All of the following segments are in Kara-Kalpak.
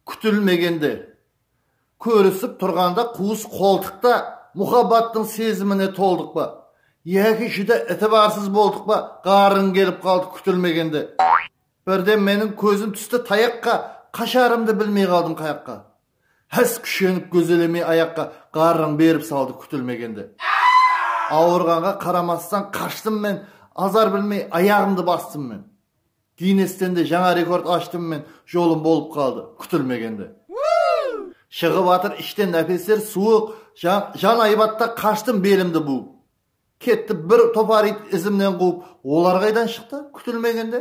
Kútilmegende, kórisip turǵanda quwıs qoltıqta muxabbattıń sezimine toldıq pa yaki júdá itibarsız boldık pa ǵarrıń kelip qaldı kútilmegende birden meniń kózim tústi tayaqqa qasharımdı bilmey qaldım qayaqqa hás kúshenip gózelemey ayaqqa ǵarrıń berip saldı kútilmegende awırǵanǵa qaramastan qashtım men azar bilmey ayaǵımdı bastım men. Ginnesteń de jańa rekord ashtım men jolım bolıp qaldı kútilmegende shıǵıp atır ishten nápesler suwıq jan aybatta qashtım belimdi buwıp ketti bir topar iyt izimnen quwıp olar qaydan shıqtı kútilmegende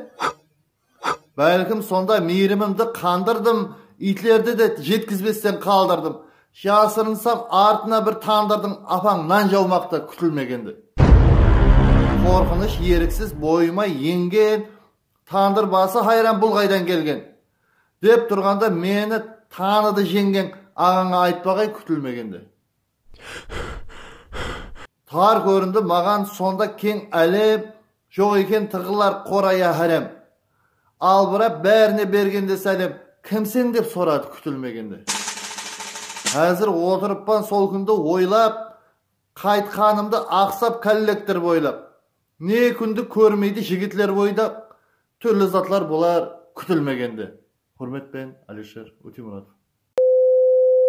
bálkim sonda miyrimimdi qandırdım iytlerdi de jetkizbesten qaldırdım Jasırınsam artına bir tandırdıń apań nan jawmaqta kútilmegende. Qorqınısh eriksiz boyıma engen tandır bası hayran bul qaydan kelgen? dep turǵanda meni tanıdı jeńgeń aǵańa aytpaǵay kútilmegende. Tar kórindi maǵan sonda keń álem Joq eken tıǵılar qoraya hárem Albırap bárine bergende sálem Kimseń dep soradı kútilmegende Házir otırıppan sol kúndi oylap Qaytqanımdı aqsap kollektor boylap Ne kúndi kórmeydi jigitler boydaq Túrli zatlar bolar kútilmegende Húrmetpen Alisher Óteymuratov.